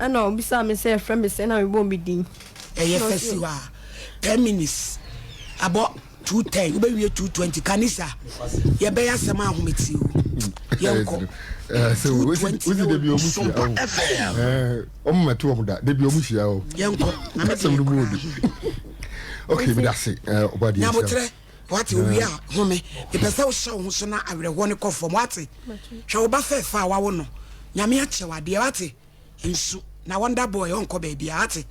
Ɛna ɔbisaa me sɛ yɛfrɛ me sɛn na mebɔɔ me din. Ɛyɛ fɛ si hɔ a ten minutes abɔ two ten wobɛwie two twenty kanisa yɛbɛyɛ asɛm a ahometeɛ o yɛnkɔ two twenty na wɔn sɔmpa fm wɔn mma to wɔn da debi wɔn hyia o yɛnkɔ na mɛ de yɛ kura okay mi da se ɔbɔ adeɛ nhyia. Wate, owie a, home. Mepɛ sɛ wohyɛ wo ho so na awerɛhoɔ no kɔ fam. Wate, hwɛ wo ba fɛɛfɛ a wawo no. Nyame akyɛ wadeɛ. Wate, nsu. Na wonder boy ɔnkɔ baabiara. Wate,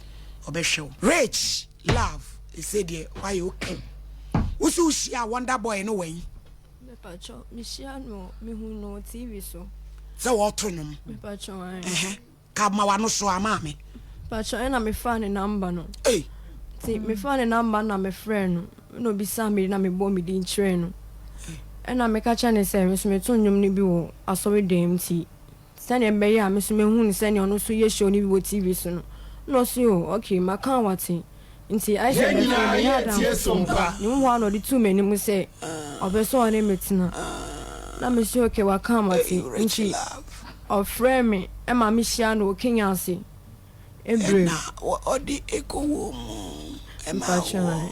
ɔbɛhwɛ wo. Rich, love, ɛsɛ deɛ wayɛ okay. Wo so wohyia wonder boy no wɛn? Mepatwɔ, mehyia no, mehu no TV so. Sɛ wɔɔto nwom? Mepatwɔ, ae. Ɛhɛ. Ka ma wano so a maame. Mpakyɛw ɛna me faa ne number no Ei. Nti me faa ne number no na me frɛɛ no ɛna obisaa me din na me bɔɔ me din kyerɛɛ no ɛna me ka kyerɛɛ no sɛ me nso me to nnwom no bi wɔ asɔre dan mu nti sɛdeɛ ɛbɛyɛ a me nso mɛhu no sɛdeɛ ɔno nso yɛ show no bi wɔ TV so no ɛna ɔse oh okay maka a wate. Nti Isaac bɛfrɛɛ me ne Abraham kɔsii no hɔ. Ne mu hɔ ara na ɔde too m'anim sɛ ɔpɛ sɛ ɔne me tena. Na mese, Okay, waka a mate. Nti ɔfrɛɛ me ma mehyiaa no wɔ Kenya ase. Ɛna ɔde kɔwoo mu maa wɔn.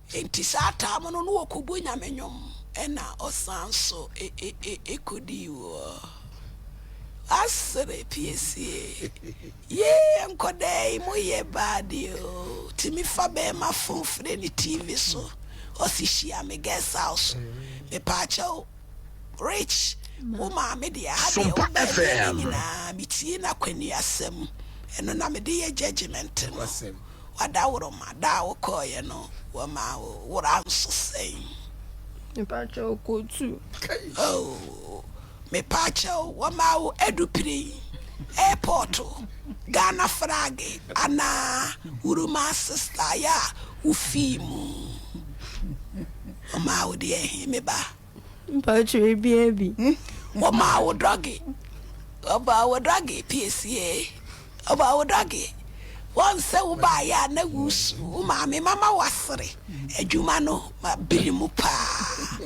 Enti saa taam no na ɔkɔbɔ Nyame nnwom ɛna ɔsan so kɔdi wɔ Asere piesie. Yee nkɔdaa yi mo yɛ bad oo, tumi fa bɛɛma fon frɛ no TV so ɔse hyia me guest house, mepaakyɛw Rich wo maame deɛ ha deɛ wo bɛɛma no nyinaa metie no akwannuasɛm ɛno na mede yɛ judgement no. w'adaworoma da a wokɔeɛ no wɔmaa wo wora nso sɛn? Mepakyɛw kɔ tu. Oh, mepakyɛw wɔmaa wo adupiren, airport, Ghana frage anaa wurumaa sister yɛ a wofii mu wɔmaa wo deɛ ɛhe me ba? Mpakyɛw ebia bi. Wɔmaa wo drɔge, wɔbɔɔ wo drɔge piesie, wɔbɔɔ wo drɔge. Wɔn sɛ wobaeɛ a na woresu, wo maame mama woasere, adwuma no ma bere mu paa.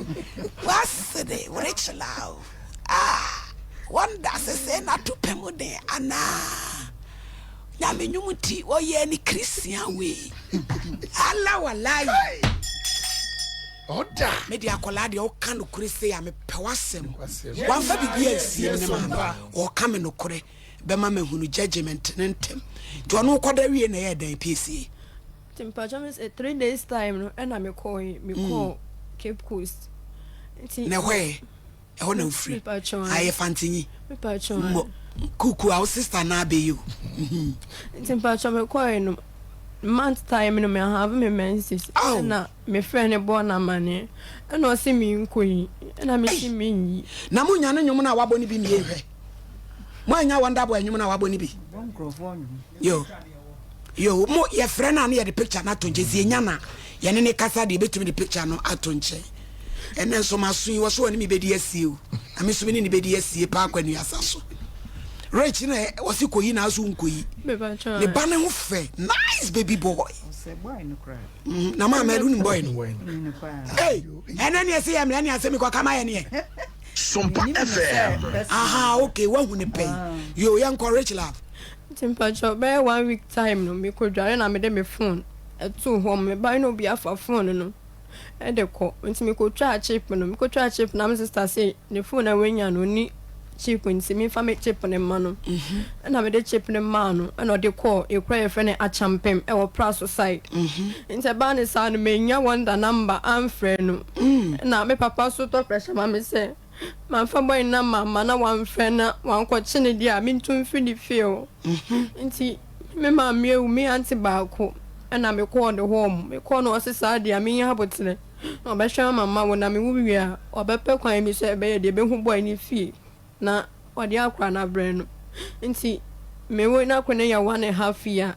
Woasere, worekyela o, ah, wɔn da sesee na to pɛ mu den anaa? Nyame nnwom nti wɔyɛɛ no Christian wei, Allah walayi. Ɔda. Me deɛ akwadaa deɛ woka nokorɛ sei a mepɛ w'asɛm. Wamfa biribi ansie me ne maame. Ɔka me nokorɛ bɛma mahunu judgement no ntɛm. Nti ɔno wokɔda wie na ɛyɛɛ dɛn piesie? Nti mpakyɛw me sɛ three days time no ɛna mekɔɔ mekɔɔ Cape Coast. Nti. Na ɛhɔ ɛ? ɛhɔ na wofiri a yɛ fantinyi mbɔ kuku a wo sister na abɛyi o. nti mpatsɔ me kɔɛ no month time no me have me menses ɛna me frɛ ne bɔɔ na amaneɛ ɛna ɔse me nkɔ yi ɛna me si me nyi. na mo nya ne nwom no a wabɔ no bi mmie nhwɛ mo anya wonderboy nwom no a wabɔ no bi yo. Yoo mo yɛfrɛ no a na yɛde picture no ato nkyɛn sɛ yɛnya no a yɛne no kasa deɛ yɛbɛtumi de picture no ato nkyɛn ɛnɛ nso maso yi wɔso wɔne me bɛdi asie o na me nso me ne ne bɛdi asie paa kwa nuasa so rich na wɔse kɔyi na aso nkɔyi ne ba ne ho fɛ nice baby boy mm, na maa mɛde wonim boy no ei ɛnɛ neɛ sɛ yɛ mmerɛ ne asɛ mekɔka ma yɛ neɛ Sumpa FM aha ok wahu ne pɛi yo yɛnkɔ rich love Nti mpakyɛw bɛyɛ one week time no me kɔ dware na me de me phone ɛtoo hɔ me ba na obi afa phone no ɛde kɔ nti me kɔ twaa chip no me kɔ twaa chip na me sister se ne phone a wanya no onni chip nti me nfa me chip no mma no ɛna me de chip no maa no ɛna ɔde kɔɔ ekura yɛfrɛ no akyampem ɛwɔ praso side nti ɛbaa ne saa no me nya wonder number amfrɛ no ɛna me papa so tɔ pressure ma me sɛ. Mamfa bɔn na mamma na wɔamfrɛ na wɔannkɔkye no deɛ a, mentu mfiri ne fie o. Nti me maame awu, me aunty baako na mekɔɔ ne hɔ. Mekɔɔ no ɔse saa deɛ a menya aboterɛ na ɔbɛhwɛ ama ma wo na mewu wie a ɔbɛpɛ kwan bi sɛ ɛbɛyɛ deɛ bɛhu bɔn no fie na ɔde akora no abrɛ no. Nti mewe no akɔ ne yɛ one and half year.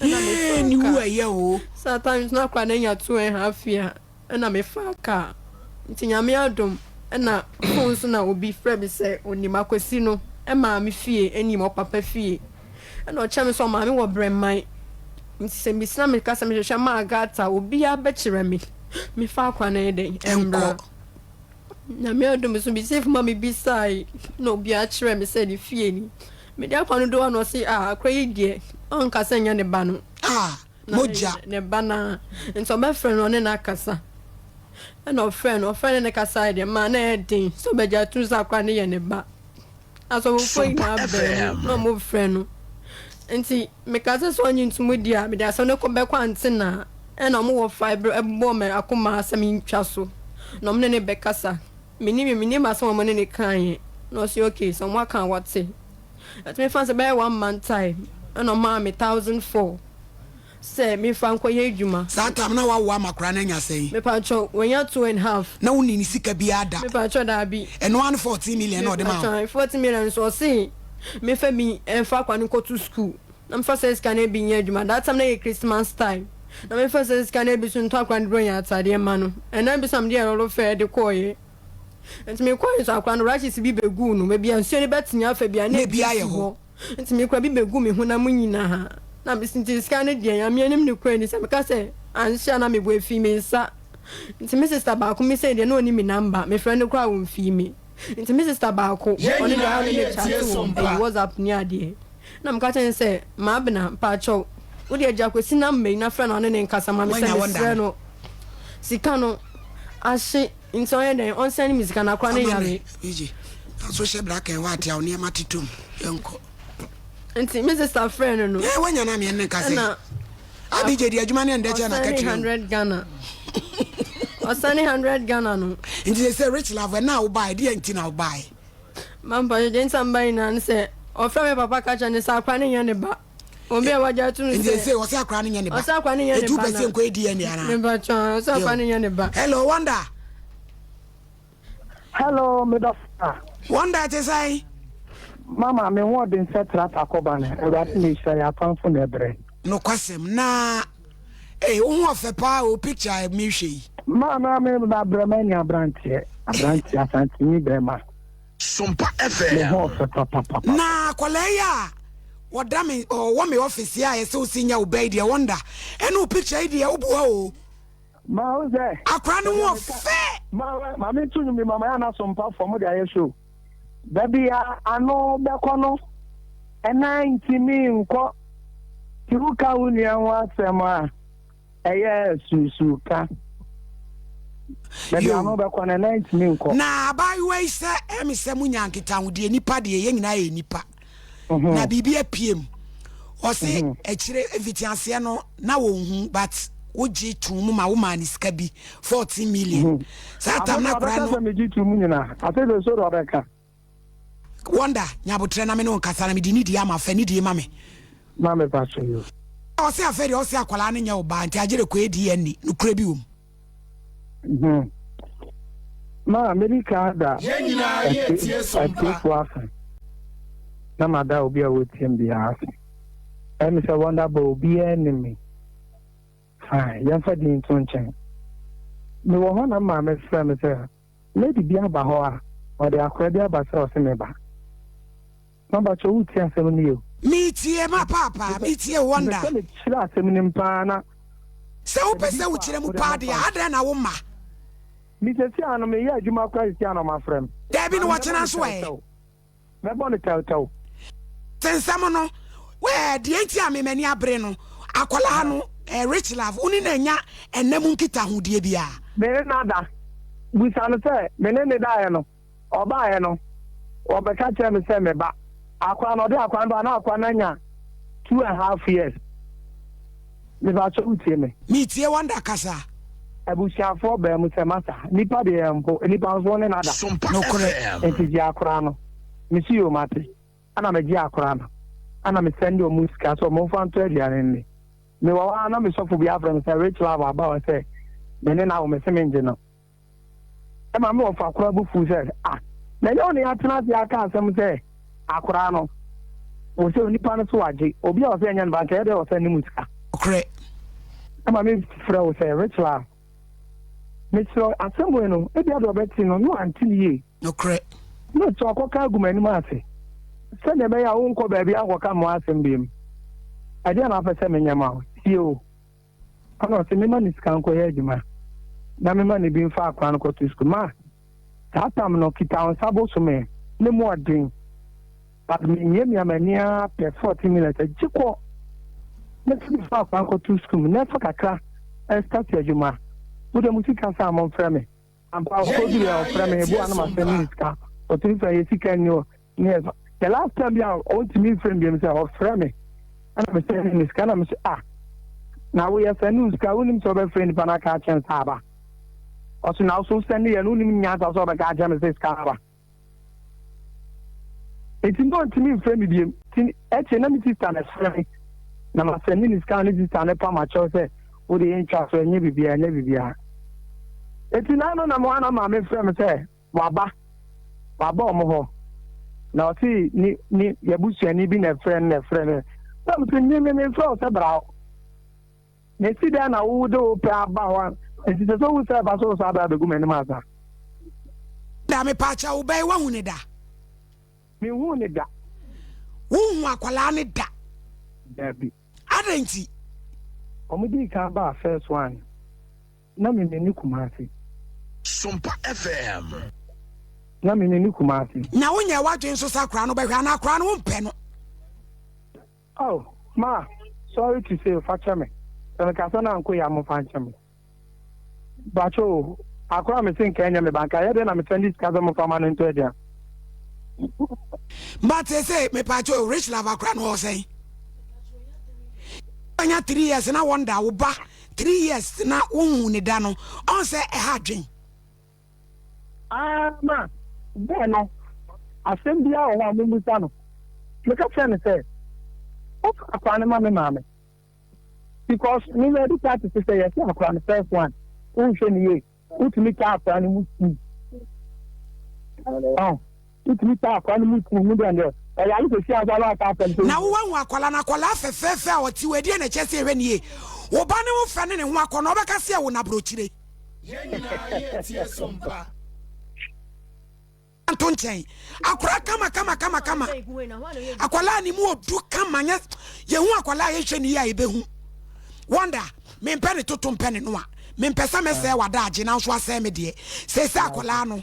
Ɛna me faa car. Yee ne wu ɛyɛ o. Sometimes na kora na nya two and half year ɛna me faa car nti nyame adom ɛna phone so na obi frɛ me sɛ onim akwasi no ɛmaa me fie ɛnim ɔpapa fie ɛna ɔkyerɛ me sɛ ɔmaa me wɔ brɛman nti sɛ me sina me ka sɛ me hwehwɛ maa gata obia bɛ kyerɛ me me faa kora na ɛyɛ dɛn ɛmbra nyame adom so me safe ma me bisae na obi akyerɛ me sɛ ne fie ni Mede akwa no dɔ a na ɔse ah akwa yi deɛ ɔnka sɛ nyɛ ne ba no ah mogya na ne ba no ah nti ɔbɛfrɛ no ɔne no akasa ɛna ɔfrɛ no ɔfrɛ ne ne kasaeɛ deɛ maa na ɛyɛ den sɛ ɔbɛgye atom sɛ akwa no yɛ ne ba asɔfofoɔ nyinaa baa mu na ɔmo frɛ no nti meka sɛ sɛ ɔnye ntom di a mede asɛm no kɔ bɛkɔ antena ɛna ɔmo wɔ fa ɛbobɔɔ me akoma sɛ mentwa so na ɔmo ne ne bɛkasa. Me nim me nim asɛm a wɔne no kaeɛ na ɔse okay sɛ wɔn aka a wate nti me faa no sɛ bɛyɛ one month time ɛna ɔmaa me thousand four sɛ me nfa nkɔ yɛ adwuma. Saa time na wawo ama koraa na anya sɛn? Me paatwɔ wanya two and half. Na wo nni ne sika biaa da? Me paatwɔ daabi. Ɛno ara ne fourteen million na ɔde maa wo? Me paatwɔ fourteen million nso ɔse me nfa bi nfa akwadaa no nkɔ to school. Na mefa saa sika no bi nyɛ adwuma that time na yɛ Christmas time na mefa saa sika no bi so ntɔ akora no Bronya ataadeɛ ma no ɛnam bi so na mede yɛ roro fɛ de kɔɔyɛ nti mekɔɔyɛ nso akora no rashes bi bɛguu no baabi a nsuo no bɛtene afa bia na ebi ayɛ hɔ nti mekora bi bɛguu me honam nyinaha na mesi nti sika no deɛ Nyame anim ne kora ni sɛ meka sɛ anhyɛ a na mebɔ ɛfii me nsa nti me sister baako me sɛ deɛ na ɔnim me number mefrɛ no koraa a ɔmfii me. Nti me sister baako Yɛn ɔno deɛ nyinaa ɔne me yɛ tie chat so wɔ mpa. ɛyi WhatsApp ne adeɛ na meka kyerɛ no sɛ Maabena mpaakyɛw wode agya Kwesi number yi na frɛ no ɔne no nkasa ma me sɛ Wanya wo mesrɛ no sika no ahye nti ɔnyɛ dɛn ɔnsɛne me sika no akora no Amame, yare. PG, fa so hyɛ bra kɛn hɔ ate a wo nneɛma tetɔ mu. Yɛnkɔ. Nti me sister frɛ no no Ɛɛ, wanya no a meɛne no nkasa yi. ɛna Abigye di adwuma ne ndɛkyɛ na kɛkyerɛ. Ɔsɛne hundred Ghana. Ɔsɛne hundred Ghana no. Nti sɛ sɛ rich love ɛna awo baa ɛdi yɛ nti na awo baa yɛ. Mampa yɛ gye nsa mba nyinaa ne sɛ ɔfrɛ me papa kakyɛ ne sɛ akora ne nyɛ ne ba. Obi a wagya atum sɛ. Nti sɛ ɔsɛ akora ne nyɛ ne ba. Ɔsɛ akora ne nyɛ ne ba na. Etu pɛ sɛ nkɔ edi yɛ ne ana. Mepatwa ɔsɛ akora ne nyɛ ne ba. Hello wonder. Hello, me dɔfra. Wɔn da te sɛn? Mama, me ho ɔden sɛ trat akɔba no, Awurade na ehyira yɛ atamfo na ɛbrɛ. Nokwasɛm, na ee, wo ho ɔfɛ paa o, picture a mehwɛ yi. Maa na me ba brɛ ma ni abranteɛ, abranteɛ asantini bɛrima. Sompa FM. Me ho ɔfɛ papapapa. Na akwadaa yi a wɔda me ɔwɔ me office a yɛsɛ osi nya wo bɛyi deɛ wɔn da ɛna o picture yi deɛ o boa o. Mahu sɛ. Akwadaa no ho ɔfɛ. Maame tu nwom bi ma ma yɛ anaso mpa fam mo de ayɛ show. Baabi a ano bɛkɔ no ɛnan ntumi nkɔ ti wo ka wo nua ho asɛm a ɛyɛ susu ka. Baabi a ano bɛkɔ no ɛnan ntumi nkɔ. Na abaayewa yi sɛ ɛmi sɛ mo nya nkitahodie nipa deɛ yɛn nyinaa yɛ nipa. mhm. na biribi apue mu ɔse mhm. akyire mfitiaseɛ no na wɔhu but wogye too mu ma womaa ne sika bi 14 million saa tam no akora no wonder nyabotrɛ na me ne wo nkasa na mede ne die ama fa ne die ma me ɔse afɛ deɛ ɔse akwadaa no nyɛ wo baa nti agyere kɔ adi anni nokorɛ bi wɔ mu Hmm. Ma medika da atiefo ase na mada obi a wɔtiem biara ase. Ɛmi sɛ wɔnda bɔ obiara nim me. Fine, yɛmfa din to nkyɛn. Mewɔ hɔ na maame frɛ me sɛ Lady bi aba hɔ a ɔde akora bi aba sɛ ɔse meba. Mabakyɛ wo tie asɛm no yie o. Me tie ma paa paa me tie wonder. Mepɛ sɛ me kyerɛ asɛm no mu paa na. Sɛ wo pɛ sɛ wo kyerɛ mu paa deɛ adɛn na wo ma. Me sɛsi a no me yɛ adwuma koraa sɛsi a na ɔmo afrɛ me. Daabi na ɔkyena nso ɛ. mɛbɔ no tawtaw. Te nsɛm no, eh, deɛ nti a me m'ani abere no, akwadaa no, eh, Rich Love, wo ne no anya ɛnnɛ mu nkitahodie biara? Me ne no ada. Bisa no sɛ, me ne no daeɛ no, ɔbaeɛ no, ɔbɛka kyerɛɛ me sɛ meba. Akwadaa no, ɔde akwadaa no ba a, na akwadaa no anya two and half years. Mepakyɛ wo tie me. Me tie wonder kasa. Abusuafoɔ baa mu sɛ masa. Nipa deɛ yɛ mpo, nipa nso ɔne nada. Nokorɛ. Nti gye akora no. Me se yoo mate. Ɛna me gye akora no. Ɛna me sɛnde ɔmo sika sɛ ɔmo nfa ntɔ aduane nni. Me wɔ hɔ aa na me sɔfo bi afrɛ me sɛ Rich love aba ɔsɛ me ne no awo me se me ngye no. ɛma me wɔfa koraa bo fuw sɛ, Ah, na ɛnyɛ wo na yɛatena ase aka asɛm sɛ akoraa no, wo sɛ onipa no so agye, obi a ɔsɛ ɛnyɛ no ba, nka ɛyɛ dɛ ɔsɛ ne mu sika. Nokorɛ. Ɛma me frɛ wo sɛ, Rachel a, mekyerɛ wo asɛm wei no, ebia deɛ ɔbɛte no, na wante no yie. Nokorɛ. Na kyerɛ ɔkɔka agu m'anim ase, sɛdeɛ ɛbɛyɛ a worenkɔ baabiara nkɔka mmoa asɛm biom. Ɛdeɛn na wopɛ sɛ menyɛ ma wo? Tie o. Ana ɔse mema no sika nkɔyɛ adwuma na mema no bi mfa akora no kɔto sukuu ma saa tam no kita wo nsa bosom ɛ ne mu ɔden but me mia mia m'ani aa pɛ 14 minutes agye kɔ ne so mfa akora nkɔto sukuu na ɛfa kakra ɛstati adwuma wode mo sika saa mo mfrɛ me Ampa o okodu bia ɔfrɛ me meboa no masɛ menni sika ɔtumi frɛ yɛ sika nni hɔ ne ɛfa the last time bia ɔntumi mfrɛ me biam sɛ ɔfrɛ me ɛna me sɛ menni sika na me sɛ ah na woyɛ sɛ ne sika wonim sɛ wobɛfrɛ nipa no aka akyɛn sɛ aba ɔso na woso sɛ ne yɛ no wonim nyansa sɛ ɔbɛka akyɛn me sɛ sika aba Enti na ɔntumi mfrɛ me biom. Ti ɛkyɛ na me sista na ɛfrɛ me. Na ma sɛ ne ne sika ne sista ne pa ma kyɛw sɛ wo de yɛ ntwa so ɛnyɛ bibia ɛnyɛ bibia. Enti na ano na mo ana maame frɛ me sɛ waba waba ɔmo hɔ. Na ɔte ne ne yabusuani bi na ɛfrɛ no na ɛfrɛ me. Na mo sɛ me me me mfrɛ wo sɛ bra hɔ. Na esi dɛn na wode wo pɛ aba hɔ a enti sɛ sɛ owu sɛ ɛba so wo saa bere abegu m'anim asa? Da mepaakyɛ wo bɛn wahu ne da? Menhuu ne da. Wonhu akwadaa no da? Dabi. Adɛn nti? Wɔdii kan baa First One na me menni Kumasi. Sompa FM. Na me menni Kumasi. Na wonyɛɛ w'adwene nso sɛ akwadaa no wobɛhwɛ anaa akwadaa no wompɛ no? Oh ma sorry to say fa kyɛ me sɛ me kasa no anko yɛ a mo fa nkyɛ me bakyɛ o akora a me se nka ɛnyɛ me ba nka ɛyɛ dɛn na me sɛnde sika sɛ mo fa ma no ntɔ aduan. But they say me pacho rich love akora no ɔsɛn. Anya three years na wonder wo ba three years na wo hu ne da no ɔn sɛ ɛha adwen. Ara ma bere no asɛm biara wɔ hɔ a mummisa no. Meka kyerɛɛ no sɛ, Wofa akora no ma me maame? Because me na adi kan tete sɛ yɛse akora no first one, wonhwɛ no yie, wotumi taa akora no mu sum. Wotumi taa akwadaa no mu kuw ho dɛ ndɛ ɔyare kesi ansa na ɔaka asɛm sɛ. Na wo wahu akwadaa no, akwadaa fɛfɛɛfɛ a ɔte hɔ, ɛdeɛn na ɛkyerɛ sɛ ɛhwɛ no yie? Wo ba no ho fɛ ne ne ho akɔnnɔ, wobɛka sɛ ɛwo no aborɔkyire. Yɛn nyinaa yɛ tie so mpa. Nto nkyɛn. Akwadaa kama kama kama kama. Akwadaa ne mu odu kama nyɛ yɛhu akwadaa a yɛhwɛ no yie a yɛbɛhu. Wonder, mempɛ ne toto mpɛ ne noa. Mempɛ sɛ mɛsɛe w'adaagye nanso asɛe me deɛ. Seesei akwadaa no.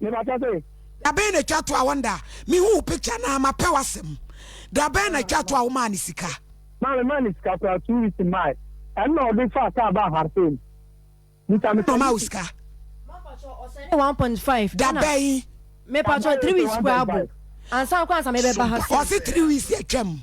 Mebata sɛ. Dabɛn na twa to a wonda me hu wo picture naa ma pɛ wasɛm dabɛn na twa to a wo maa no sika. Maa me maa no sika koraa two weeks in my ɛno na ɔde faa car baa hartay mu bisa me sɛ. Na ɔmaa wo sika. Mapatwɔ ɔsɛnde one point five. Dabɛn. Mepatwɔ three weeks koraa bo ansa koraa ansa mebɛba ha. Ɔse three weeks atwam.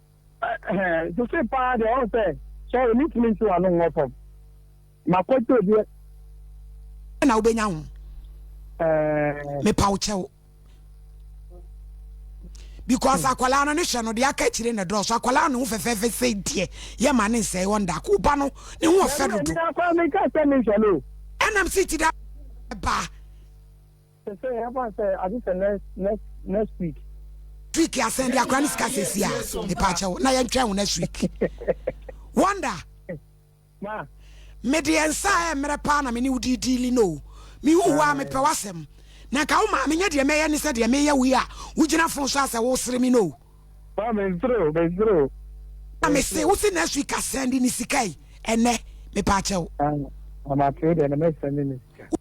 Ɛhɛɛ, sese paa deɛ ɔn sɛ, sorry, me ntumi nte w'ano nwɔ fam. Ma kwadwo deɛ. Dɛn na wobɛnya ho? Ɛɛɛ. Me paw kyɛw. Because akwalaa no ne hwɛ no deɛ aka akyire na dɔɔso akwalaa no ho fɛfɛɛfɛ sɛ deɛ yɛ ma ne nsɛe wɔn da ko ba no ne ho ɔfɛ dodo. Ɛnam si ti da ba. Sesei ɛfa sɛ ade sɛ next next next week. Tweek asɛn de akora ne sika sesi a mepaakyɛw na yɛntwɛn wo next week Wonder. Ma. Mede yɛn nsa a ɛmmerɛ paa na me ne wo di diili no o. Mehu wo a mepɛ w'asɛm. Na nka wo maa menyɛ deɛ mɛyɛ ne sɛ deɛ meyɛ wo yi a wogyina fon so a sɛ wosere me no o. Ma mensere o, mensere o. Na mese wo se next week asɛn de ne sika yi ɛnɛ mepaakyɛw. Ah, mate wo deɛ na mɛsɛn de ne sika.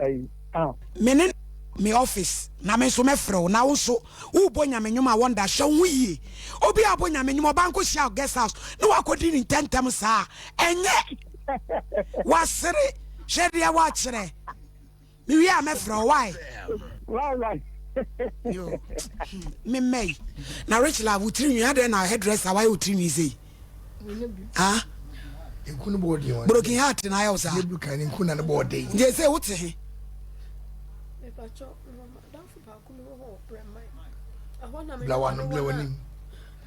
ayi ah. Me ne me office na me nso mɛfrɛ wo na wo nso wobɔ nyame nnwom a wɔnda hyɛ wo ho yie obi a ɔbɔ nyame nnwom ɔba nkɔ hyia guest house na wakɔdi ne ntɛntɛm saa ɛnyɛ wasere hwɛ deɛ wakyerɛ mewie a mɛfrɛ wo wae memmɛi na rich love wo tiri nwi adɛn na hairdresser wayɛ wo tiri nwi sei ha broken heart na ayɛ wo saa nti ɛsɛ wote he blawano blawanim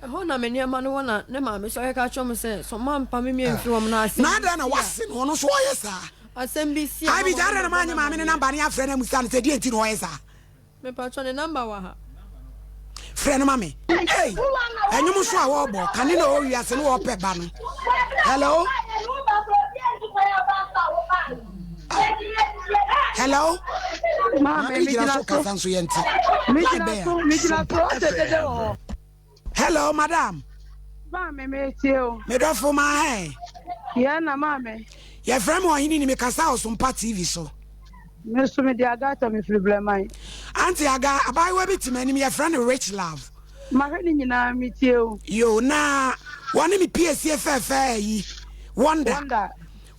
ɛhɔ na me nneɛma no wɔ na ne maame so ɔyɛka kyerɛ m sɛ sɛ ɔma mpa me mmiɛ mfiri wɔm no asɛm na adɛn na wase no ɔno so ɔyɛ saa asɛm bi si abi gya adɛn na maanye maame ne namba ne afrɛ no amusa no sɛ deɛ nti na ɔyɛ saa Mepakyɛ ne number wɔ ha. Frɛ no ma me. Ei ɛnwom nso a wɔbɔ kane na ɔwɔ wiase no wɔpɛ ba no hello hello maame gyina so kasa nso yɛnte na bɛn a Hello, madam. Baa me metie o. Me dɔfo ma hɛn. Yɛn na maa me. Yɛfrɛ me ɔhene ni mekasa Ɔsompa TV so. Me nso mede Agatha mefiri Blɛman. Auntie Aga, abaayewa bi te m'anim yɛfrɛ no Rich Love. Mahwɛ ne nyinaa metie o. Yo, na wɔne me piesie fɛɛfɛɛ ayi Wonder. Wonder.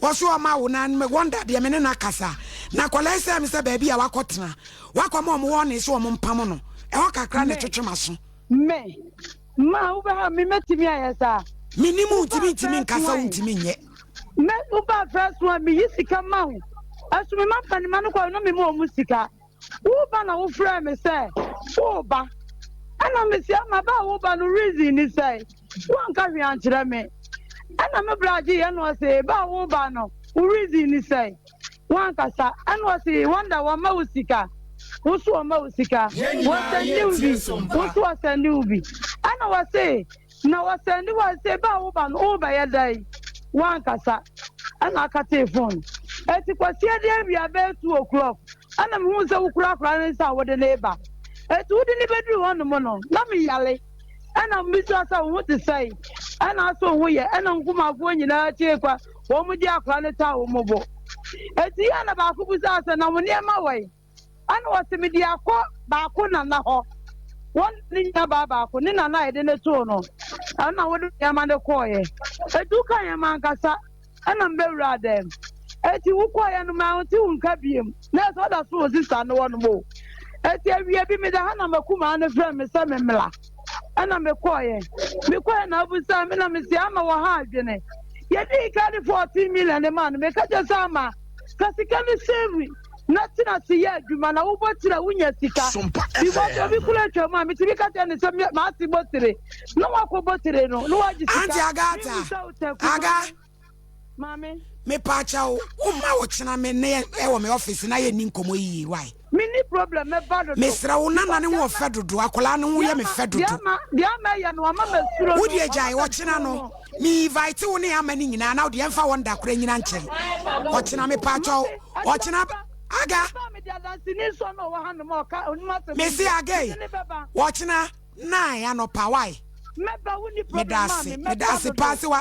Wɔso ɔma wo na Wonder deɛ me ne no akasa. Na akwadaa yi sɛ me sɛ baabi a wakɔtena wakɔma wɔn wɔne sɛ wɔn mpam no. Ɛhɔ kakra na ɛtwetwe m'aso. Me, ma wo bɛ ha me mɛtumi ayɛ saa. Me nim wo ntumi ntumi nka sɛ wo ntumi nyɛ. Me wo ba first one me yi sika ma wo ɛso me ma mpanima no kɔ na me ma ɔmo sika wo ba na wo frɛ me sɛ wo ba ɛna me si ama ba wo ba no reason ni sɛ wo nka hwee ankyerɛ me ɛna me bra agye yɛ no ɔsɛ ba wo ba no wo reason ni sɛ. Wankasa ɛna ɔse wonder wɔma wo sika wo nso wɔma wo sika wɔsɛnde wo bi wo nso wɔsɛnde wo bi ɛna wɔse na wɔsɛnde wo a sɛ baa woba no wobɛyɛ dɛn wankasa ɛna akatee fon eti kwasia de awia bɛyɛ two o'clock ɛna mehu sɛ wokurakura ne nsa a wode ne ba eti wode ne bɛduru hɔ nom no na meyale ɛna mbisa sɛ wo ho te sɛe ɛna aso ho yɛ ɛna nkumafoɔ nyinaa tie kwa Wɔde akora no taa wɔn bo. Enti yɛn na baako bisaa sɛ, Na wo nneɛma wɔ he? Ɛnna ɔse, Mede akɔ baako nana hɔ. Wɔne no nuabaa baako, ne nana a yɛde no too no, ɛno na wode nneɛma no kɔeɛ. Enti wokaeɛ m'ankasa, ɛnna mebɛwuraa dɛm. Enti wokɔeɛ no, mante wo nka biom. Nɛɛse, ɔda so wɔ sista no hɔnom o. Enti awia bi, meda ha na m'akumaa no frɛɛ me sɛ memmra. ɛna mekɔɔyɛ mekɔɛ na abusa me na mesi ama wɔ ha adwene yɛdii ka de fourteen million ne maa no meka kyɛ sɛ ama ka sika no save na tena se yɛ adwuma na wobɔ tiri a wonya sika because obi kura atwa mu a metumi ka kyɛ ne sɛ maase bɔ tire na wakɔbɔ tire no na wagye sika Maame. Me pa kya wo, wo ma wo kyena me ne yɛ wɔ me office na yɛ ni nkɔmɔ yiye, why? Me ni problem me ba dodo. Me srɛ wo, nana ne ho ɔfɛ dodo, akwadaa ne ho yɛ me fɛ dodo. Diama, diama yɛ no, ama me suro no. Wo deɛ gyae, ɔkyena no, me invite wo ne ama ne nyinaa, na wo deɛ mfa wɔn da kora nyina nkyɛn. Ɔkyena me pa kya wo, ɔkyena, aga. Me se aga yi, ɔkyena, nine anɔpa, why? Me da ase, me da ase paa se wa.